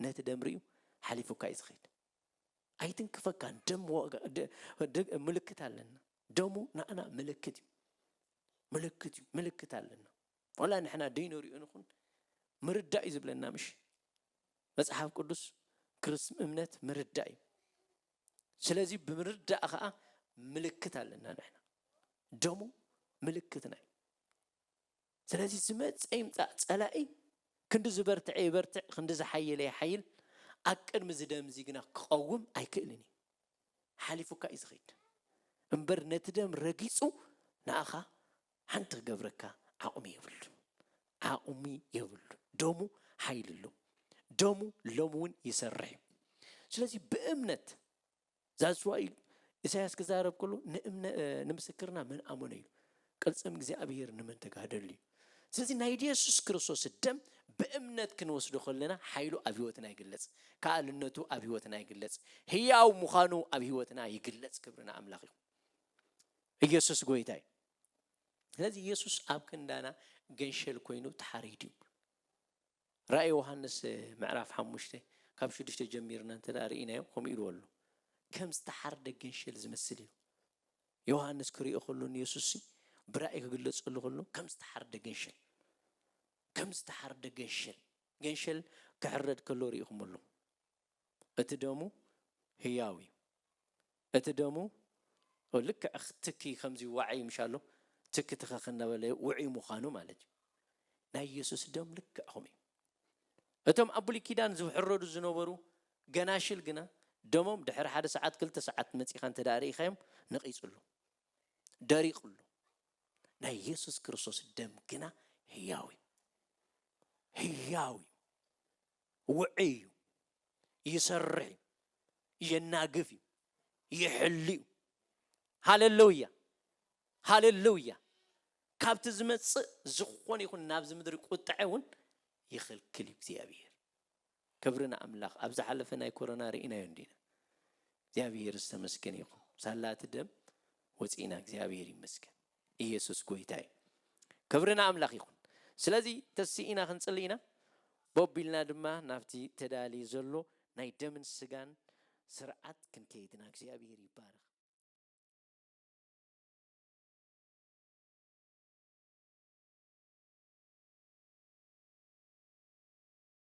ነቲ ደም ርእዩ ሓሊፉካ እዩ ዝኸይድ ኣይትንክፈካን ደም ምልክት ኣለና ደሙ ንኣና ምልክት እዩ ምልክት እዩ ምልክት ኣለና ወላ ንሕና ደይንሪኦ ንኹን ምርዳእ እዩ ዝብለና ምሽ መጽሓፍ ቅዱስ ክርስም እምነት ምርዳእ እዩ ስለዚ ብምርዳእ ከዓ ምልክት ኣለና ንሕና ደሙ ምልክትና እዩ ስለዚ ዝመጸ ይምጻእ ጸላኢ ክንዲ ዝበርትዐ ይበርትዕ ክንዲ ዝሓየለ ይሓይል ኣብ ቅድሚ እዚ ደም እዚ ግና ክቐውም ኣይክእልን እዩ። ሓሊፉካ እዩ ዝኸይድ እምበር ነቲ ደም ረጊጹ ንኣኻ ሓንቲ ክገብረካ ዓቕሚ የብሉን ዓቕሚ የብሉን ደሙ ሓይሊ ኣለዎ ደሙ ሎሚ እውን ይሰርሕ እዩ ስለዚ ብእምነት That's why ኢሳያስ ክዛረብ ከሎ ንእምነ ንምስክርና መን ኣመነ ኢሉ ቅልጽም እግዚኣብሔር ንመን ተጋደሉ እዩ ስለዚ ናይ ኢየሱስ ክርስቶስ ደም ብእምነት ክንወስዶ ከለና ሓይሉ ኣብ ህይወትና ይግለጽ ከኣልነቱ ኣብ ህይወትና ይግለጽ ህያው ምዃኑ ኣብ ህይወትና ይግለጽ ክብርና ኣምላኽ ይኹን ኢየሱስ ጎይታ እዩ ስለዚ ኢየሱስ ኣብ ክንዳና ገንሸል ኮይኑ ተሓሪድ እዩ ራእይ ዮሃንስ ምዕራፍ ሓሙሽተ ካብ ሽዱሽተ ጀሚርና እንተ ርኢናዮ ከምኡ ኢልዎ ኣሎ። ከም ዝተሓርደ ገንሸል ዝመስል እዩ። ዮሃንስ ክርእዮ ከሎ ንየሱስሲ ብራእይ ክግለጸሉ ከሎ ከም ዝተሓርደ ገንሸል ከም ዝተሓርደ ገንሸል ገንሸል ክሕረድ ከሎ ርኢኹሞ ኣለኹም። እቲ ደሙ ህያው እዩ እቲ ደሙ ልክዕ ትኪ ከምዚ ዋዒ ምሽ ኣሎ ትኪ ትኸኽ እናበለ ውዑይ ምዃኑ ማለት እዩ ናይ የሱስ ደም ልክዕ ከምኡ እዩ እቶም ኣብ ብሉይ ኪዳን ዝሕረዱ ዝነበሩ ገናሽል ግና ደሞም ድሕሪ ሓደ ሰዓት ክልተ ሰዓት መጺኻ እንተ ደኣ ርኢኻዮም ነቒጹሉ ደሪቑሉ ናይ የሱስ ክርስቶስ ደም ግና ህያው እዩ ህያው እዩ ውዑይ እዩ፣ ይሰርሕ እዩ፣ የናግፍ እዩ፣ ይሕሉ እዩ። ሃለለውያ! ሃለለውያ! ካብቲ ዝመጽእ ዝኾነ ይኹን ናብዚ ምድሪ ቁጥዐ እውን ይኽልክል እዩ እግዚኣብሄር። ክብሪ ንኣምላኽ! ኣብ ዝሓለፈ ናይ ኮሮና ርኢናዮ እንዲና። እግዚኣብሄር ዝተመስገነ ይኹን። ሳላ እቲ ደም ወጺእና እግዚኣብሄር ይመስገን። ኢየሱስ ጎይታ እዩ ክብሪ ንኣምላኽ ይኹን ስለዚ ተሲኢና ክንጽሊ ኢና ቦብ ኢልና ድማ ናብቲ ተዳልዩ ዘሎ ናይ ደምን ስጋን ስርዓት ክንከይድ ኢና እግዚኣብሔር ይባረኽ።